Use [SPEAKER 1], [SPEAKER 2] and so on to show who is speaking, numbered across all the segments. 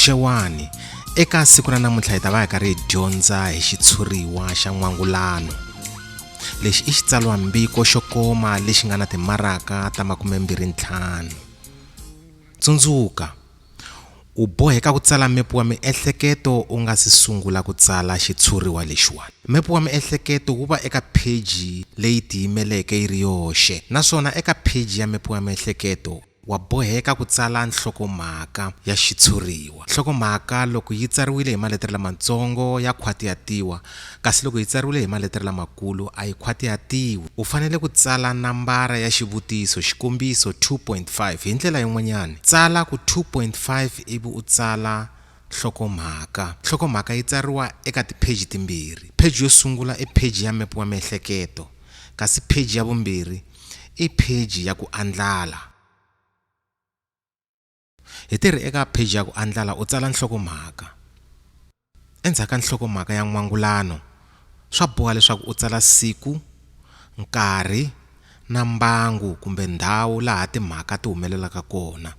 [SPEAKER 1] xewani eka siku ra namuntlha hi ta va hi karhi hi dyondza hi xitshuriwa xa n'wangulano lexi i xitsalwambiko xo koma lexi nga na timaraka ta makume mbirhi ntlhanu tsundzuka U boheka ku tsala mepu wa miehleketo u nga si sungula ku tsala xitshuriwa lexiwani. Mepu wa miehleketo wu va eka pheji leyi tiyimeleke yi ri yoxe naswona eka pheji ya mepu wa miehleketo wa boheka ku tsala nhlokomhaka ya xitshuriwa. Nhlokomhaka loko yi tsariwile hi maletere lamatsongo ya khwatiyatiwa Kasi loko yi tsariwile hi maletere lamakulu, a yi khwatihatiwi. U fanele ku tsala nambara ya xivutiso, xikombiso, 2.5. Hi ndlela yin'wanyana, tsala ku 2.5 ivi u tsala nhlokomhaka. Nhlokomhaka yi tsariwa eka tipheji timbirhi. Pheji yo sungula i pheji ya mepe wa miehleketo, kasi pheji ya vumbirhi i pheji ya ku andlala. Hi tirhe eka pheji ya ku andlala u tsala nhlokomhaka. Endzhaku ka nhlokomhaka ya n'wangulano, swa boha leswaku u tsala siku, nkarhi na mbangu kumbe ndhawu laha timhaka ti humelelaka kona.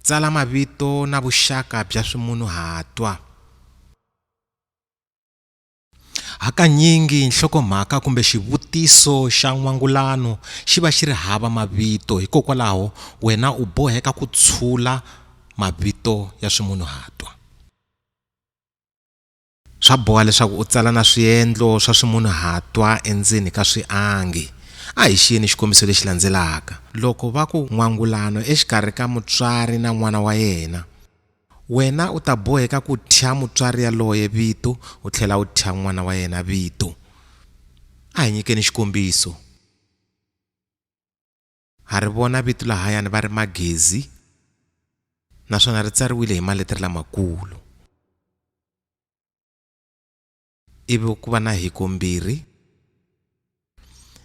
[SPEAKER 1] Tsala mavito na vuxaka bya swimunuhatwa. Hakanyingi nhlokomhaka kumbe xivutiso xa n'wangulano xi va xi ri hava mavito, hikokwalaho wena u boheka ku tshula mavito ya swimunhuhatwa. Swa boha leswaku u tsala na swiendlo swa swimunhuhatwa endzeni ka swiangi. A hi xiyeni xikombiso lexi landzelaka. Loko va ku, N'wangulano exikarhi ka mutswari na n'wana wa yena. Wena u ta boheka ku thya mutswari yaloye vito u tlhela u thya n'wana wa yena vito. A hi nyikeni xikombiso. Ha ri vona vito lahayani va ri Magezi naswona ri tsariwile hi maletere lamakulu. ivi ku va na hikombirhi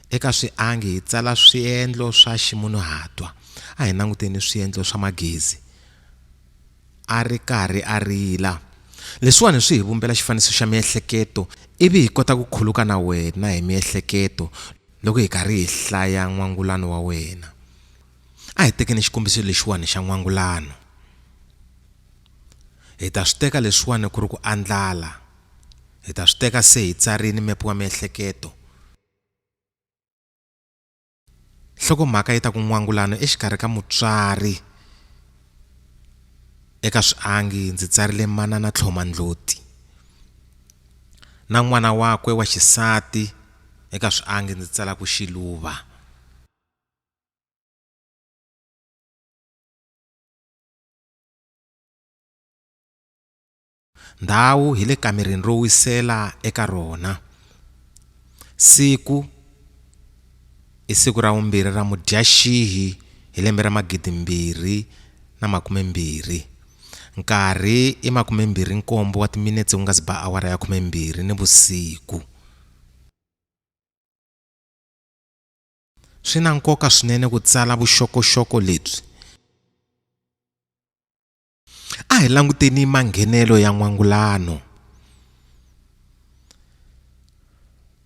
[SPEAKER 1] eka swiangi hi tsala swiendlo swa ximunhuhatwa a hi languteni swiendlo swa magezi a ri karhi a rila leswiwani swi hi vumbela xifaniso xa miehleketo ivi hi kota ku khuluka na wena hi miehleketo loko hi karhi hi hlaya n'wangulano wa wena a hi tekeni xikombiso lexiwani xa n'wangulano Hi ta swi teka leswiwani ku ri ku andlala. Hi ta swi teka se hi tsarile mepe wa miehleketo. Nhlokomhaka yi ta ku n'wangulano exikarhi ka mutswari. Eka swiangi ndzi tsarile Manana Tlhoma Ndloti na n'wana wakwe wa xisati, eka swiangi ndzi tsala ku Xiluva. ndhawu hi le kamereni ro wisela eka rona siku i siku ra vumbirhi ra mudyaxihi hi lembe ra magidimbirhi na makumembirhi nkarhi i makumembirhi nkombo wa timinetse ku nga si ba awara ya khumembirhi ni vusiku Swi na nkoka swinene ku tsala vuxokoxoko lebyi. A hi languteni manghenelo ya n'wangulano.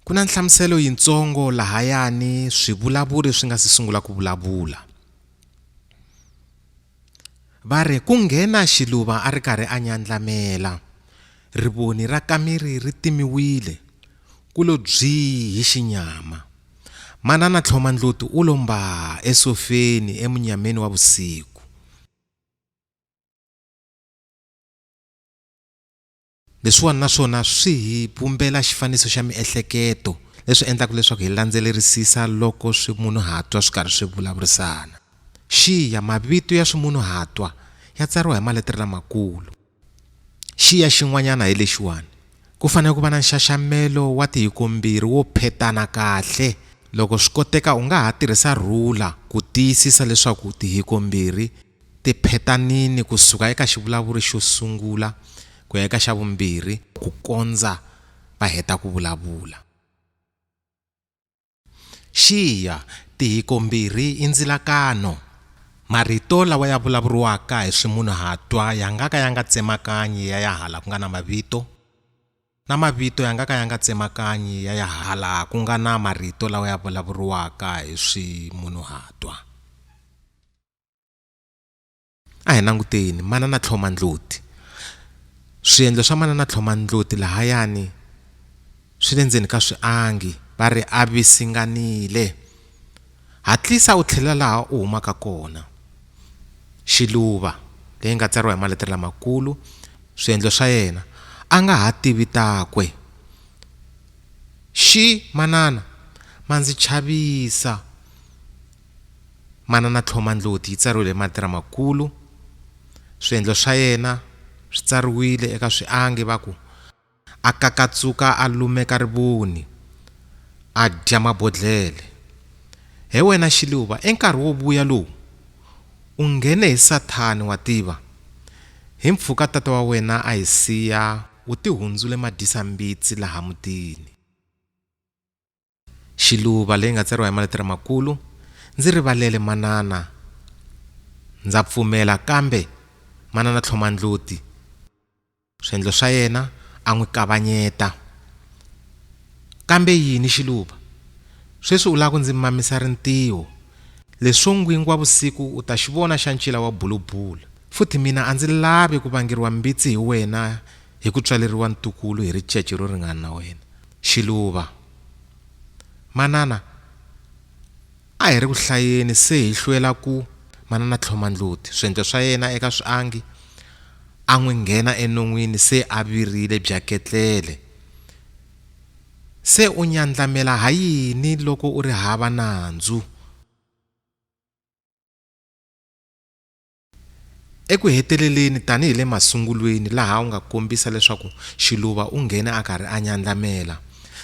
[SPEAKER 1] Ku na nhlamuselo yintsongo lahayani swivulavuri swi nga si sungula ku vulavula. Va ri, Ku nghena xiluva a ri karhi a nyandlamela. Rivoni ra kameri ri timiwile, ku lo bzii hi xinyama. Manana Tlhomandloti u lo mbaa esofeni emunyameni wa vusiku. Leswiwani na swona swi hi vumbela xifaniso xa miehleketo, leswi endlaka leswaku hi landzelerisisa loko swimunhuhatwa swi karhi swi vulavurisana. Xiya, Mavito ya swimunhuhatwa ya tsariwa hi maletere lamakulu. Xiya xin'wanyana hi lexiwani, Ku fanele ku va na nxaxamelo wa tihikombirhi wo phetana kahle. Loko swi koteka u nga ha tirhisa rhula ku tiyisisa leswaku tihikombirhi Tiphetanini ku suka eka xivulavuri xo sungula ku ya eka xa vumbirhi ku kondza va heta ku vulavula. Xiya, Tihikombirhi i ndzilakano. Marito lawa ya vulavuriwaka hi swimunhuhatwa ya nga ka ya nga tsemakanyi ya ya hala ku nga na mavito, na mavito ya nga ka ya nga tsemakanyi ya ya hala ku nga na marito lawa ya vulavuriwaka hi swimunhuhatwa. a hi languteni manana tlhoma ndloti swiendlo swa manana tlhoma ndloti lahayani swi le ndzeni ka swiangi va ri a visinganile hatlisa u tlhelela laha u humaka kona xiluva leyi nga tsariwa hi maletere lamakulu swiendlo swa yena a nga ha tivi takwe xi manana ma ndzi chavisa Manana Tlhoma Ndloti yi tsariwile hi marito lamakulu. Swiendlo swa yena swi tsariwile eka swiangi va ku, A kakatsuka a lumeka rivoni, a dya mabodlhele. He wena Xiluva, enkarhi wo vuya lowu, u nghene hi Sathani wa tiva. Hi mpfhuka tata wa wena a hi siya u tihundzule madyisa-mbitsi laha mutini. Xiluva leyi nga tsariwa hi maletere makulu, Ndzi rivalele manana ndza pfumela kambe manana Tlhomandloti swiendlo swa yena a n'wi kavanyeta. Kambe yini Xiluva? Sweswi u lava ku ndzi mamisa rintiho. Leswo n'gwingwavusiku u ta xi vona xa ncila wa bulubula. Futhi mina a ndzi lavi ku vangeriwa mbitsi hi wena hi ku tswaleriwa ntukulu hi ricece ro ringana na wena. Xiluva, Manana a hi ri ku hlayeni se hi hlwela ku Manana Tlhomandlhuti swendlo swa yena eka swiangi a n'wi nghena enon'wini se a virile bya ketlele. Se u nyandlamela ha yini loko u ri hava nandzu? Eku heteleleni tanihi le masungulweni laha u nga kombisa leswaku xiluva u nghene a karhi a nyandlamela,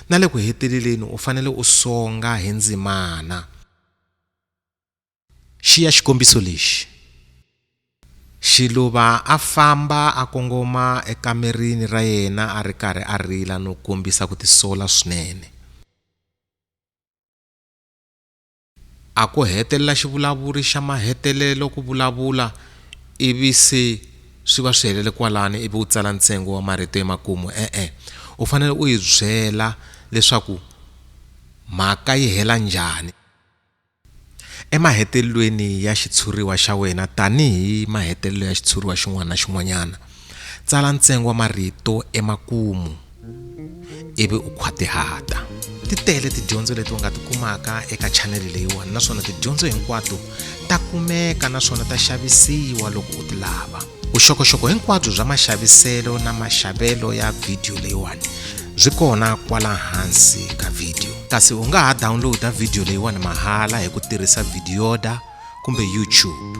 [SPEAKER 1] na le ku heteleleni u fanele u songa hi ndzimana. Xiya xikombiso lexi. Xiluva a famba a kongoma ekamerini ra yena a ri karhi a rila no kombisa ku tisola swinene. A ku hetelela xivulavuri xa mahetelelo ku vulavula ivi se swi va swi helele kwalani ivi u tsala ntsengo wa marito emakumu e-e u fanele u yi byela leswaku mhaka yi hela njhani emahetelelweni ya xitshuriwa xa wena tanihi mahetelelo ya xitshuriwa xin'wana na xin'wanyana tsala ntsengo wa marito emakumu. ivi u khwatihata ti tele tidyondzo leti u nga ti kumaka eka chanele leyiwani naswona tidyondzo hinkwato ta kumeka naswona ta xavisiwa loko u ti lava vuxokoxoko hinkwabyo bya maxaviselo na maxavelo ya vhidiyo leyiwani byi kona kwala hansi ka vhidiyo kasi u nga ha dawunlowuda vhidiyo leyiwani mahala hi ku tirhisa vhidiyoda kumbe youtube